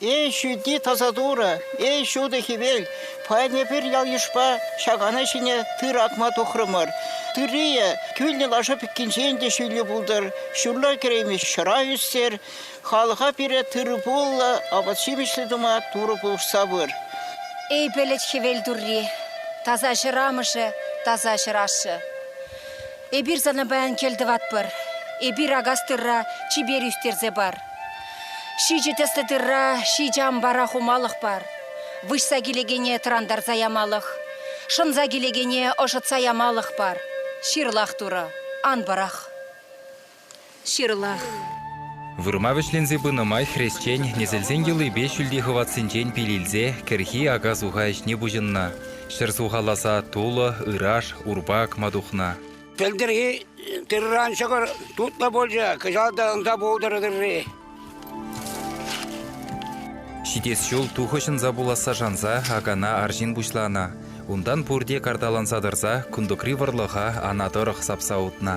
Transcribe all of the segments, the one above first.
Эй ҫути таса Турӑ, эй ҫутӑ хӗвел, паян эпир ял-йышпа ҫакана ҫине тыр акма тухрӑмӑр. Тыррийӗ кӳлнӗ лаша пӗккинчен те ҫӳллӗ пултӑр, ҫурла кӗреймест ҫӑра ӳстер, халӑха пире тырӑ-пуллӑ, апат-ҫимӗҫлӗ тума Турӑ пулӑшса пыр. Эй пӗлӗт хӗвел турри, таса ҫӗр амӑшӗ, таса ҫӗр ашшӗ. Эпир сана паян кӗлтӑватпӑр. Эпир акас тырра чипер ӳстерсе пар. Ҫичӗ тӗслӗ тырра ҫичӗ ампара хумалӑх пар. Выҫса килекене тӑрантарса ямалӑх, шӑнса килекене ӑшӑтса ямалӑх пар. Ҫырлах турӑ, ан пӑрах. Ҫырлах. Вырма вӗҫленсе пынӑ май хресчен несӗлсен йӑлипе ҫӳлти хӑватсенчен пил илсе кӗрхи ака-суха ӗҫне пуҫӑннӑ. Ҫӗр сухаласа тулӑ, ыраш, урпак ма тухнӑ. Тӗлтӗрхи тырран ҫӑкӑр тутлӑ пулчӗ, кӑҫал та ӑнса пултӑр тырри. Ҫитес ҫул тухӑҫ ӑнса пуласса шанса акана арҫын пуҫланӑ. Унтан пурте карталанса тӑрса кунтукри вӑрлӑха ана тӑрӑх сапса утнӑ.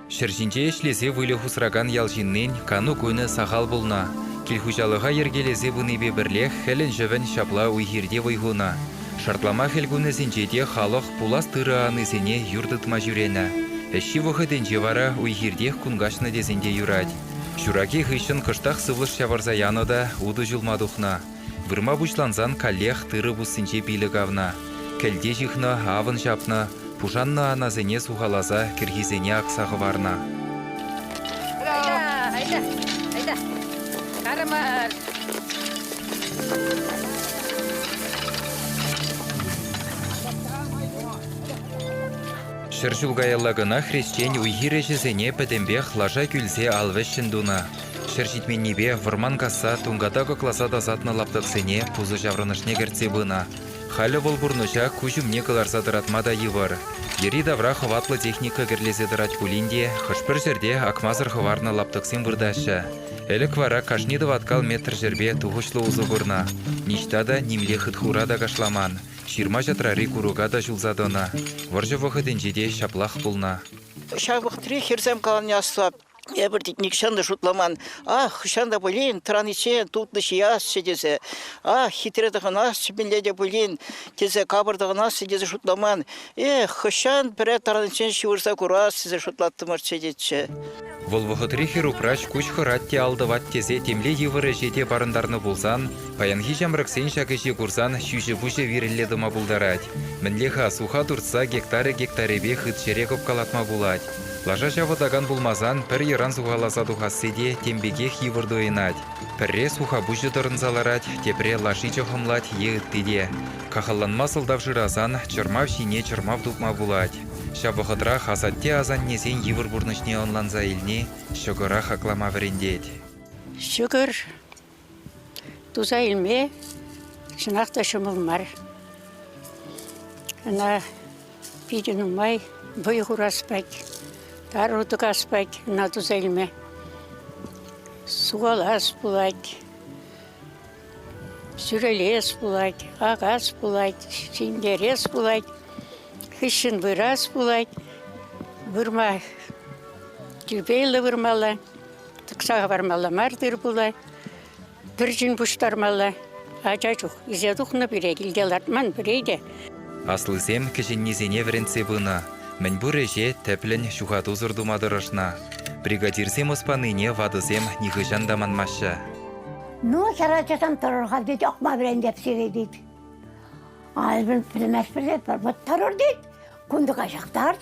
Ҫӗр ҫинче ӗҫлесе выльӑх усракан ял ҫыннин кану кунӗ сахал пулнӑ. Кил-хуҫалӑха йӗркелесе пынипе пӗрлех хӗлӗн-ҫӑвӗн ҫапла уй-хирте вӑй хунӑ. Шартлама хӗл кунӗсенче те халӑх пулас тырӑ анисене юр тытма ҫӳренӗ. Ӗҫҫи вӑхӑтӗнче вара уй-хиртех кун каҫнӑ тесен те юрать. Ҫураки хыҫҫӑн кӑштах сывлӑш ҫавӑрса янӑ та утӑ ҫулма тухнӑ. Вырма пуҫлансан каллех тырӑ пуссинче пилӗк авнӑ. Кӗлте ҫыхнӑ, авӑн ҫапнӑ, пушаннӑ анасене сухаласа кӗрхисене акса хӑварнӑ. Айда, айда, карамар. Ҫӗр ҫул каялла кӑна хресчен уй-хир ӗҫӗсене пӗтӗмпех лаша кӳлсе ал вӗҫҫӗн тунӑ. Ҫӗр ҫитменнипе вӑрман касса тунката кӑкласа тасатнӑ лаптӑксене пусӑ ҫаврӑнӑшне кӗртсе пынӑ. Халӗ вӑл пурнӑҫа куҫ умне кӑларса тӑратма та йывӑр. Йӗри-тавра хӑватлӑ техника кӗрлесе тӑрать пулин те хӑш-пӗр ҫӗрте акмасӑр хӑварнӑ лаптӑксем выртаҫҫӗ. Ӗлӗк вара кашни тӑваткал метр ҫӗрпе тухӑҫлӑ усӑ курнӑ. Ниҫта та, нимле хытхура та кашламан, ҫырма-ҫатрари курӑка та ҫулса тӑнӑ. Вӑрҫӑ вӑхӑтӗнче те ҫаплах пулнӑ. Ҫав вӑхӑтри хӗрсем калани аслӑ. Эпир нихҫан та шутламан, ах, хӑҫан та пулин тӑраниччен тутлӑ ҫиасчӗ тесе, ах, хитре тӑхӑнасчӗ мӗнле те пулин тесе, капӑр тӑхӑнасчӗ тесе шутламан. Эх, хӑҫан пӗрре тӑраниччен ҫывӑрса курас тесе шутлаттӑмӑрччӗ тетчӗ. Вӑл вӑхӑтри хӗр-упраҫ куҫ хӑрать те ал тӑвать тесе темле йывӑр ӗҫе те парӑнтарнӑ пулсан, паянхи ҫамрӑксен ҫак ӗҫе курсан ҫӳҫӗ-пуҫӗ вирӗлле тӑма пултарать. Мӗнле-ха, суха туртса гектарӗ-гектарӗпе хыт ҫӗре кӑпкалатма пулать? Лаша ҫавӑтакан пулмасан пӗр йӑран сухаласа тухасси те тем пекех йывӑр туйӑнать. Пӗрре сухапуҫӗ тӑрӑнса ларать, тепре лаши чӑхӑмлать е ытти те. Кахалланма сӑлтав шырасан чӑрмав ҫине чӑрмав тупма пулать. Ҫав вӑхӑтрах асатте-асаннесен йывӑр пурнӑҫне ӑнланса илни ҫӑкӑра хаклама вӗрентет. Ҫӑкӑр Туса илме чӑнах та ҫӑмӑл мар. Ӑна питӗ нумай вӑй хурас пек, тару тӑкас пек ӑна туса илме. Сухалас пулать, сӳрелес пулать, акас пулать, ҫӗнтерес пулать, хыҫҫӑн вырас пулать. Вырма тирпейлӗ вырмалла. Тӑкса хӑвармалла мар тыр-пула, пӗр ҫын пуҫтармалла. Ача чух ӳсе тухнӑ пире килте лартман пире те. Аслисем кӗҫӗннисене вӗрентсе пынӑ. Мӗнпур ӗҫе тӗплӗн, ҫухатусӑр тума тӑрӑшнӑ. Бригадирсем ӑс панине ватӑсем нихӑҫан та манмаҫҫӗ. Ну, ҫар ачасем тӑрӑр-ха, тет, акма вӗрентеп сире, тет. Ай, пӗлместпӗр, тет, вӑттарӑр, тет, кунтӑка ҫактарч.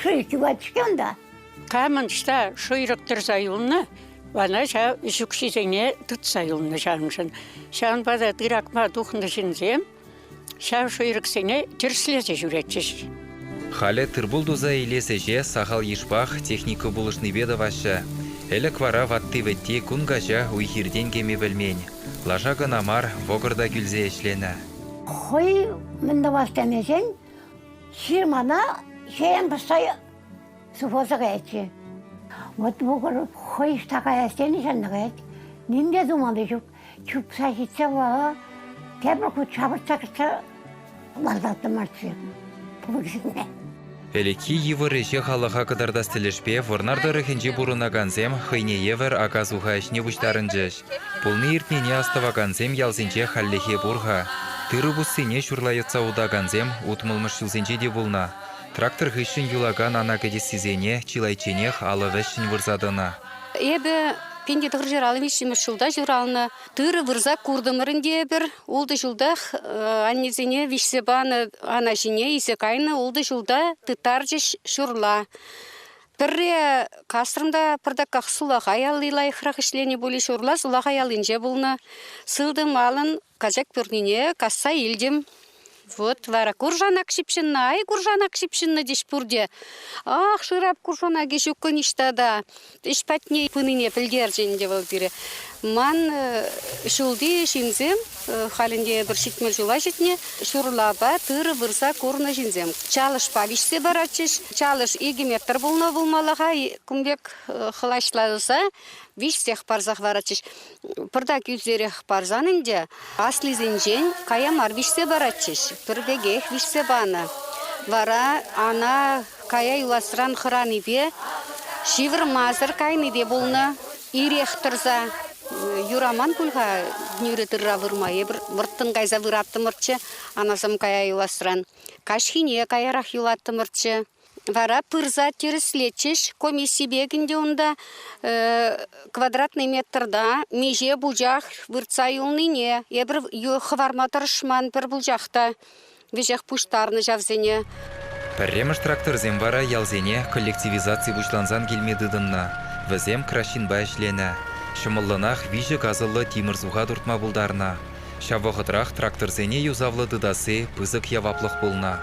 Шыв чупать-ҫке унта. Камӑн ӑҫта шӑйрӑк тӑрса юлнӑ, вана ҫав ӗҫ укҫисене тытса юлнӑ ҫаншӑн. Ҫавӑнпа та тыракма тухнӑ ҫынсем ҫав шӑйрӑксене тӗрӗслесе ҫӳретчӗҫ. Халӗ тыр-пул туса илес ӗҫе сахал йышпах техника пулӑшнипе тӑваҫҫӗ. Ӗлӗк вара ватти-вӗтти кун каҫа уй-хиртен кӗме пӗлмен. Лаша кӑна мар, вӑкӑр та кӳлсе ӗҫленӗ. Хӑй мӗн тӑвас тенӗшӗн Ҫын мана хӗрен пӑсса сыхласа каять-ши? Вот вӑкӑр хӑй ӑҫта каяс тени ҫанна каять. Ним те тумалли ҫук. Чупса ҫитсе вара тепӗр хут ҫапӑртса кӗтсе лартаттӑм мартчӗ пулӑҫине. Ӗлӗкхи йывӑр ӗҫе халӑха кӑтартас тӗлӗшпе Вӑрнар тӑрӑхӗнче пурӑнакансем хӑйне евӗр ака-суха ӗҫне пуҫтарӑнчӗҫ. Пулни-иртнине астӑвакансем ялсенче хальлӗхе пур-ха. Тырӑ пуссине ҫурла йӑтса утакансем утмӑлмӗш ҫулсенче те пулнӑ. Трактор хыҫҫӑн юлакан ана кӗтессисене чылайчченех алӑ вӗҫҫӗн вырса тӑнӑ. Эпӗ пин те тӑхӑрҫӗр алӑ виҫҫӗмӗш ҫулта ҫуралнӑ. Тырӑ вырса куртӑмӑр ӗнтӗ эпир. Ултӑ ҫултах аннесене виҫсе панӑ ана ҫине илсе кайнӑ. Ултӑ ҫулта тыттарчӗҫ ҫурла. Пӗрре касрӑм та пӑртаках сулахай алли лайӑхрах ӗҫленӗ пулӗ, ҫурла сулахай аллинче пулнӑ. Сылтӑм алӑн качак пӳрнине касса илтӗм. Вот вара куршанак ҫыпҫӑннӑ, ай куршанак ҫыпҫӑннӑ теҫ пурте. Ах, шырап куршанакӗ ҫуккӑ ниҫта та. Ӗҫ патне пынине пӗлтерчӗ ӗнтӗ вӑл пире. Ман ҫулти ҫынсем Халь ӗнтӗ эпир ҫитмӗл ҫула ҫитнӗ. Ҫурлапа тырӑ вырса курнӑ ҫынсем чалӑшпа виҫсе паратчӗҫ. Чалӑш икӗ метр пулнӑ пулмалла-ха. Кун пек хӑлаҫласа виҫсех парсах паратчӗҫ. Пӑртак ӳсерех парсан ӗнтӗ аслисенчен кая мар виҫсе паратчӗҫ. Пӗр пекех виҫсе панӑ. Вара ана кая юласран хӑранипе, ҫывӑрмасӑр кайнипе пулнӑ. Ирех тӑрса юраман пуль-ха нӳрӗ тырра вырма. Эпир вӑрттӑн кайса выраттӑмӑрччӗ анасем кая юласран. Каҫхине каярах юлаттӑмӑрччӗ. Вара пырса тӗрӗслетчӗҫ комиссипе ӗнтӗ унта квадратный метрта миҫе пучах выртса юлнине. Эпир хӑварма тӑрӑшман пӗр пучах та. веҫех пуҫтарнӑ ҫавсене. Пӗрремӗш тракторсем вара ялсене коллективизаци пуҫлансан килме тытӑннӑ. Вӗсем краҫҫынпа ӗҫленӗ. Ҫӑмӑллӑнах виҫӗ касӑллӑ тимӗр суха туртма пултарнӑ. Ҫав вӑхӑтрах тракторсене юсавлӑ тытасси пысӑк яваплӑх пулнӑ.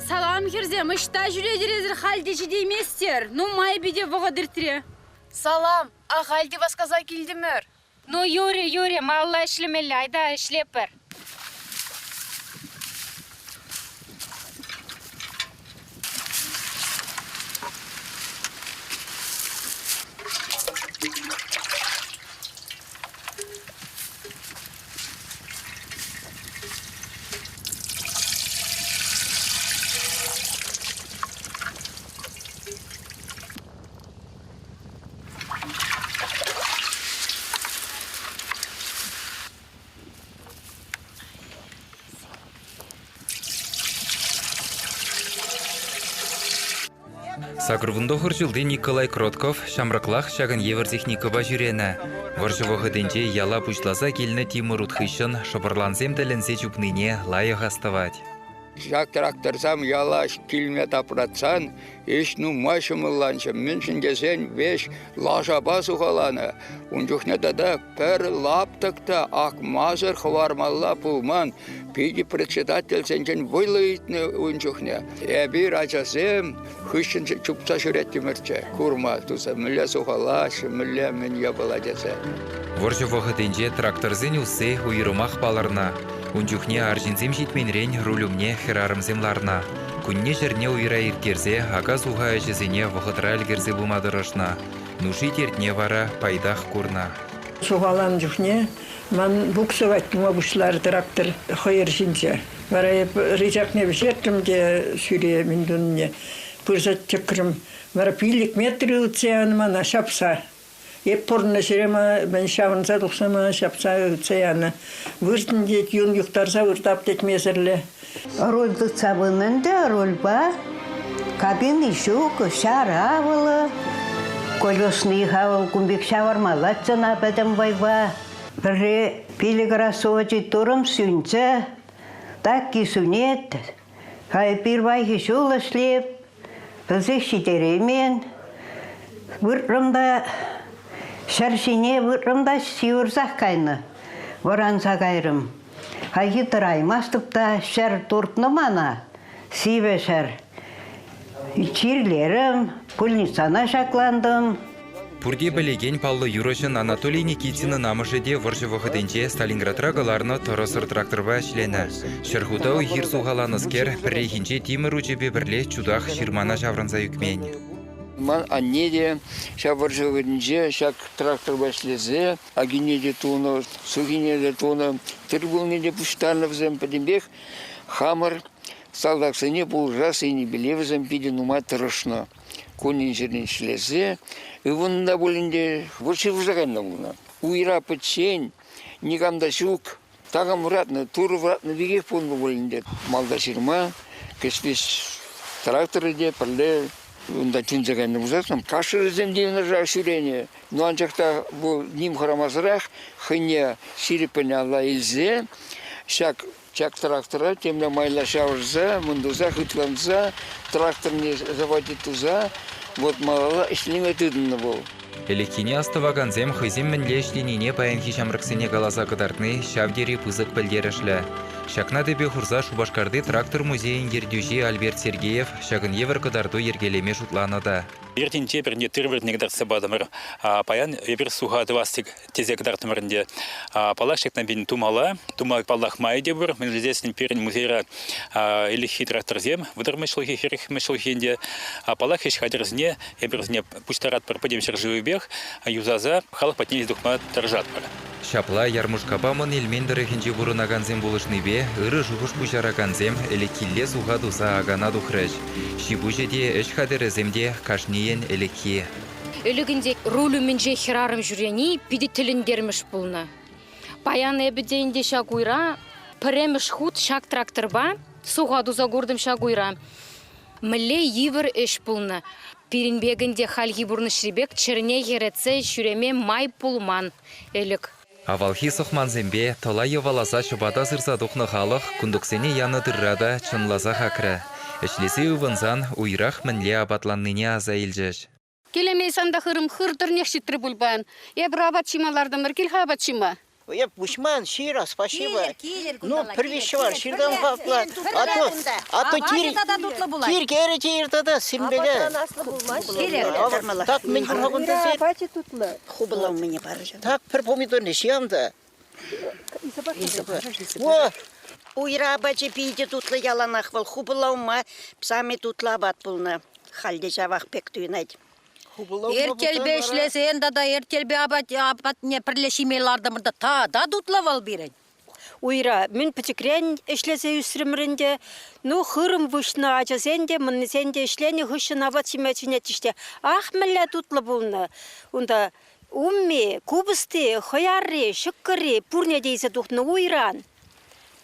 Салам хӗрсем, ӑҫта ҫӳретӗр эсир? Халь те ҫитейместер. Нумай питӗ вӑхӑт иртрӗ. Салам, ахаль те васкаса килтӗмӗр. Ну, Юрий, Юрий, малалла ӗҫлемелле, айта ӗҫлепӗр. Сакӑр вунтӑхӑр ҫулти Николай Кротков ҫамрӑклах ҫакӑн евӗр техникӑпа ҫӳренӗ. Вӑрҫӑ вӑхӑтӗнче яла пуҫласа килнӗ тимӗр ут хыҫҫӑн шӑпӑрлансем тӗлӗнсе чупнине лайӑх астӑвать. Ҫак тракторсем яла килме тапратсан Ӗҫ нумай ҫӑмӑлланчӗ, мӗншӗн тесен веҫ лашапа сухаланӑ. Ун чухне тата пӗр лаптӑк та акмасӑр хӑвармалла пулман. Питӗ председательсенчен вӑйлӑ ыйтнӑ ун чухне. Эпир, ачасем, хыҫҫӑн чупса ҫӳреттӗмӗрччӗ курма туса мӗнле сухалаҫҫӗ, мӗнле мӗн япала тесе. Вӑрҫӑ вӑхӑтӗнче тракторсен усси уйрӑмах палӑрнӑ. Ун чухне арҫынсем ҫитменрен руль умне хӗрарӑмсем ларнӑ. Кунне-ҫӗрне уйра ирттерсе ака-суха ӗҫӗсене вӑхӑтра ӗлкӗрсе пыма тӑрӑшнӑ, нуши-тертне вара пайтах курнӑ. Сухаланӑ чухне ман буксовать тума пуҫларӗ трактор хӑйӑр ҫинче. Вара эп рычакне вӗҫертрӗм те сӳре мӗн туннине пырса чӑкрӑм. Вара пиллӗк метр ывӑтса янӑ мана ҫапса. Эп пурӑннӑ мӗн ҫавӑнса тухса ҫапса ытса янӑ. Выртӑн тет, юн юхтарса выртап тет месерле. Руль тытса пынӑ ӗнтӗ, рульпа кабини ҫук, ҫара авӑлӑ. Колесный хавӑл кун пек ҫавӑрмаллаччӗ ӑна пӗтӗм вӑйпа. Пӗрре пилӗк раз сувочи турӑм сӳнчӗ, такки сӳнет, Пирвайхи ҫул ӗҫлеп, пӗлсех ҫитереймен. Выртрӑм та ҫӗр ҫине выртрӑм та ҫывӑрсах кайнӑ, вӑранса кайрӑм. Хайхи тӑраймастӑп та ҫӗр туртнӑ мана, сивӗ ҫӗр. Чирлерӗм, пульницана ҫаклантӑм. Пурте пӗлекен паллӑ юрӑҫӑн Анатолий Никитинӑн амӑшӗ те вӑрҫӑ вӑхӑтӗнче Сталинградра кӑларнӑ тӑрӑсӑр тракторпа ӗҫленӗ. Ҫӗр хута уй-хир сухаланӑскер пӗррехинче тимӗр учӗпе пӗрле чутах ҫырмана ҫаврӑнса ӳкмен. Ман анне те ҫав вӑрҫӑ вӑхӑтӗнче ҫак тракторпа ӗҫлесе акине те тунӑ, сухине те тунӑ, тыр-пулне те пуҫтарнӑ вӗсем. Пӗтӗмпех хамӑр салтаксене пулӑшас енӗпеле вӗсем питӗ нумай тӑрӑшнӑ. кунӗн-ҫӗрӗн ӗҫлесе, ывӑннӑ та пулин те, вӑл ҫывӑрса кайнӑ пулнӑ. Уйра пӗччен, никам та ҫук. Такам вӑратнӑ, Турӑ вӑратнӑ пекех пулнӑ пулин те, малта ҫырма кӗҫпес тракторӗ те пӗрле унта тӳнсе кайнӑ пулсассӑн кашӑрӗсем те юнашар ҫӳренӗ. Ну анчах та вӑл ним хӑрамасӑрах хӑйне ҫирӗппӗн алла илсе ҫак Ҫак трактора темле майла ҫавӑрса, мӑн туса хытланса, тракторне заводить туса, вот малалла ӗҫлеме тытӑннӑ вӑл. Ӗлӗкхине астӑвакансем хӑйсем мӗнле ӗҫленине паянхи ҫамрӑксене каласа кӑтартни ҫав тери пысӑк пӗлтерӗшлӗ. Ҫакна тӗпе хурса Шупашкарти трактор музейӗн ертӳҫи Альберт Сергеев ҫакӑн евӗр кӑтарту йӗркелеме шутланӑ та. Пӗртен-те пӗрне тыр-вӗртне кӑтартса патӑмӑр. Паян эпир суха тӑвас тӗк тесе кӑтартрӑмӑр ӗнтӗ. Паллах, ҫакна пин тумалла. Тума паллах май те пур. Мӗншӗн тесен пирӗн музейра ӗлӗкхи тракторсем, вӑтӑр мӗшлӗхи, хӗрӗх мӗшлӗхи ӗнтӗ. Паллах, ӗҫ хатӗрӗсене эпир вӗсене пуҫтаратпӑр пӗтӗм ҫӗршывӗпех юсаса халӑх патне илсе тухма тӑрӑшатпӑр. Ҫапла, Ярмушкапа Мӑн Элмен тӑрӑхӗнче пурӑнакансем пулӑшнипе ырӑ шухӑш пуҫаракансем ӗлӗкхилле суха туса акана тухрӗҫ. Ҫи-пуҫӗ те, ӗҫ хатӗрӗсем те кашнийӗн ӗлӗкхи. Ӗлӗкӗнче руль умӗнче хӗрарӑм ҫӳрени питӗ тӗлӗнтермӗш пулнӑ. Паян эпӗ те ӗнтӗ ҫак уйра пӗрремӗш хут ҫак тракторпа суха туса куртӑм ҫак уйра. Мӗнле йывӑр ӗҫ пулнӑ. Пирӗн пек ӗнтӗ хальхи пурнӑҫри пек чӗрне хӗретсе ҫӳреме май пулман ӗлӗк. Авалхи сӑхмансемпе тӑла йӑваласа ҫӑпата сырса тухнӑ халӑх кунтуксене янӑ тырра та чӑнласах акрӗ. Ӗҫлесе ывӑнсан уйрах мӗнле апатланнине аса илчӗҫ. Килӗмейсан та хырӑм хыр тӑрнех ҫитрӗ пуль паян. Эпир апат ҫима лартӑмӑр. Кил-ха апат ҫима. Эп куҫман, ҫырӑ, спасибо. Ну, привещевай, ҫыртам хакла. А тут, а тут тир, тир кӗрӗ те ир тата, симбеге. Кирек, тӑрмалла. Так мӗн юлма кунта сир? Апачӗ тутлӑ. хупӑла умне парӑча. Так пӗр помидорне ҫиянды. О, уйра апачӗ питӗ тутлӑ яланах вӑл хупӑла ума сами тутлӑ апат пулнӑ. Халь ҫавах пек туйӑнать. Эртелпе ӗҫлесен тата эртелпе апатне пӗрле ҫиме лартӑмӑр та та тутлӑ вӑл пирӗн. Уйра мӗн пӗчӗкрен ӗҫлесе ӳсрӗмӗр ӗнтӗ. Ну, хырӑм выҫнӑ ачасен те, мӑннисен те ӗҫленӗ хыҫҫӑн апат ҫиме чӗнетчӗҫ те, ах, мӗнле тутлӑ пулнӑ. Унта умми, купӑсти, хӑярри, ҫӑкӑрри пурне те илсе тухнӑ уйран.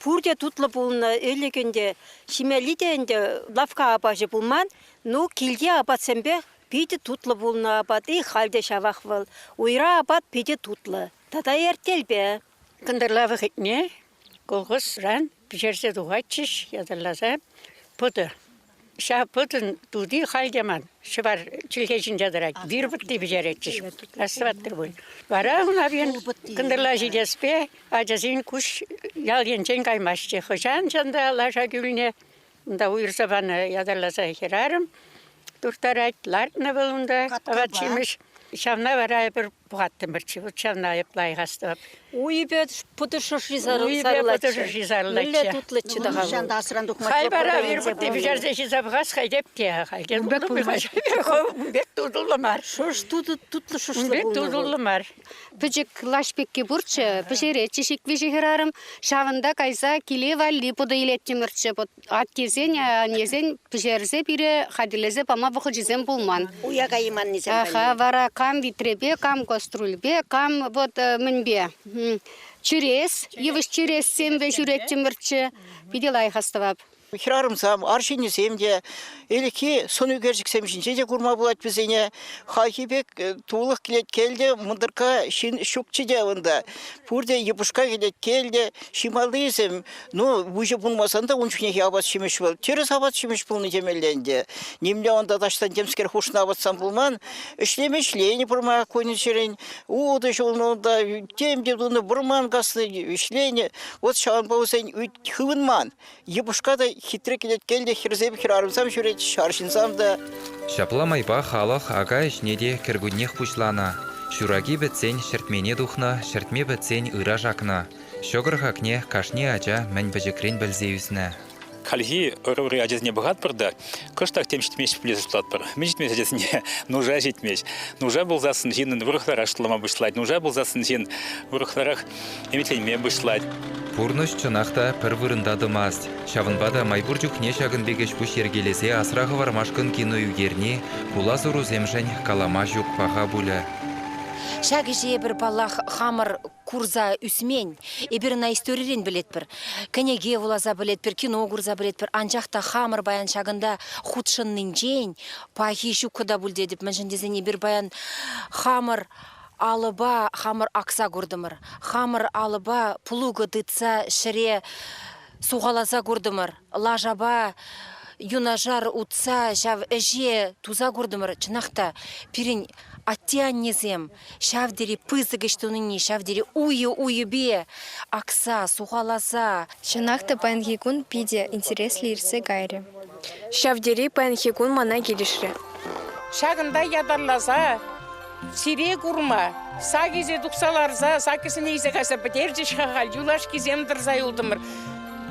Пурте тутлӑ пулнӑ ӗлӗк ӗнтӗ. Ҫимелли те ӗнтӗ лавкка апачӗ пулман. Ну, килти апатсемпе питӗ тутлӑ пулнӑ апат. И халь те ҫавах вӑл. Уйра апат питӗ тутлӑ тата эртелпе. Кӑнтӑрла вӑхӑтне колхозран пӗҫерсе тухатчӗҫ ятарласа пӑтӑ. Ҫав пӑтӑн тути халь те ман ҫӑвар чӗлхе ҫинче тӑрать. Вир пӑтти пӗҫеретчӗҫ. Раз тӑваттӑр пуль. Вара Унавин кӑнтӑрла ҫитеспе ачасен куҫ ял енчен каймаҫҫӗ. Хӑҫан чӑн та лаша кӳлне Унта уйӑрса панӑ ятарласа хӗрарӑм турттарать. Лартнӑ вӑл унта апат-ҫимӗҫ. Ҫавна вара эпир пӑхаттӑмӑрччӗ. Вот ҫавна айӑплах астӑвап. Уйӗпе путӑ шӑши сарӑлатчӗ. Мӗнле тутлӑччӗ та Нихҫан та асран тухма Хай вара вирпутне пӗҫерсе ҫисе пӑхас хай теп те. Хальхи тутӑ пулмасть. Ун пек тутӑллӑ мар. Шуш тутӑ тутлӑ шушлӑ пулнӑ. Тутӑллӑ мар. Пӗчӗк лаҫ пекки пурччӗ, пӗҫеретчӗ ҫик-виҫӗ хӗрарӑм. Ҫавӑнта кайса киле валли путӑ илеттӗмӗрччӗ. Аттесен, аннесен пӗҫерсе пире хатӗрлесе пама вӑхӑчӗсем пулман. Уя кайманнисем. Аха, вара кам витрепе, кам кастрюльпе, кам вот э, мӗнпе чӳрес, йывӑҫ чӳрес семпе ҫӳреттӗмӗрччӗ. Питӗ лайӑх астӑвап. Хӗрарӑмсем, арҫыннисем те, ӗлӗкхи сӑнӳкерчӗксем ҫинче те курма пулать вӗсене. Хайхи пек э, тулӑх килет кӗлте, мӑнтӑркка ҫын ҫукчӗ те унта. Пурте йӑпӑшка килет кӗлте, ҫималлисем. Ну, выҫӑ пулмасан та ун чухнехи апат-ҫимӗҫ вӑл. Тӗрӗс апат-ҫимӗҫ пулнӑ темелле ӗнтӗ. Нимле унта таҫтан темскер хушнӑ апатсан пулман. Ӗҫлем ӗҫленӗ пӑрмак кунӗчерен. Утӑ ҫулнӑ унта, тем те тунӑ, вӑрман каснӑ, ӗҫленӗ. Вот ҫавӑнпа вӗсен хывӑнман. Йӑпӑшка та хитре кӗлеткел те хӗрсем хӗрарӑмсам ҫӳрет, арҫынсам та. Ҫапла майпа халӑх ака ӗҫне те кӗркуннех пуҫланӑ. Ҫураки пӗтсен ҫӗртмене тухнӑ, ҫӗртме пӗтсен ыраш акнӑ. Ҫӑкӑр хакне кашни ача мӗн пӗчӗкрен пӗлсе ӳснӗ. Хальхи ӑрури ачасене пӑхатпӑр та кӑштах тем ҫитмест пулин шутлатпӑр. Мӗн ҫитмест ачасене? Нуша ҫитмест. Нуша пулсассӑн ҫыннӑн вӑрӑхларах шутлама пуҫлать. Нуша пулсассӑн ҫын вӑрӑхларах ӗмӗтленме пуҫлать. Пурнӑҫ чӑнах та пӗр вырӑнта тӑмасть. Ҫавӑнпа та май пур чухне ҫакӑн пек ӗҫ-пуҫ йӗркелесе асра хӑвармашкӑн кино ӳкерни, пулас-урусемшӗн калама ҫук паха пулӗ. Ҫак ӗҫе эпир, паллах, хамӑр курса ӳсмен. Эпир ӑна историрен пӗлетпӗр. Кӗнеке вуласа пӗлетпӗр, кино курса пӗлетпӗр. Анчах та хамӑр паян ҫакӑнта хутшӑннинчен пахи ҫуккӑ та пуль тетӗп, мӗншӗн тесен эпир паян хамӑр Алӑпа хамӑр акса куртӑмӑр. Хамӑр алӑпа плуга тытса ҫӗре сухаласа куртӑмӑр. Лашапа юнашар утса ҫав ӗҫе туса куртӑмӑр. Чӑнах та, пирӗн атте-аннесем ҫав тери пысӑк ӗҫ тунине, ҫав тери уйӑ-уйӗпе акса, сухаласа. Чӑнах та, паянхи кун питӗ интереслӗ иртсе кайрӗ. Ҫав тери паянхи кун мана килӗшрӗ. Ҫакӑнта ятарласа сире курма сакӗсе тухса ларса сакӗсене илсе кайса пӗтерчӗҫ-ха халь юлашкисем тӑрса юлтӑмӑр.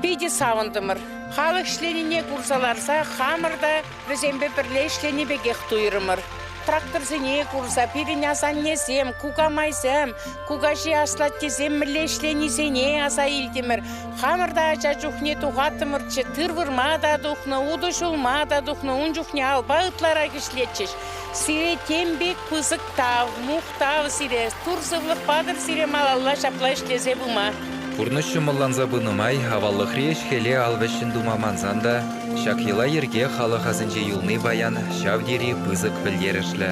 Питӗ савӑнтӑмӑр. Халӑх ӗҫленине курса ларса хамӑр та вӗсемпе пӗрле ӗҫлени пекех туйрӑмӑр. Тракторсене курса пирӗн асаннесем, кукамайсем, Кукаҫи аслат тесем мӗнле ӗҫленисене аса илтӗмӗр. Хамӑр та ача чухне тухаттӑмӑрччӗ, тыр вырма та тухнӑ, утӑ ҫулма та тухнӑ, ун чухне алпа ытларах ӗҫлетчӗҫ. Сире тем пек пысӑк тав, мухтав сире, тур сывлӑх патӑр сире малалла ҫапла ӗҫлесе пыма. Пурнӑҫ ҫӑмӑлланса пынӑ май аваллӑхри ӗҫ-хӗле ал вӗҫҫӗн тума мансан та ҫак йӑла-йӗрке халӑх асӗнче юлни паян ҫав тери пысӑк пӗлтерӗшлӗ.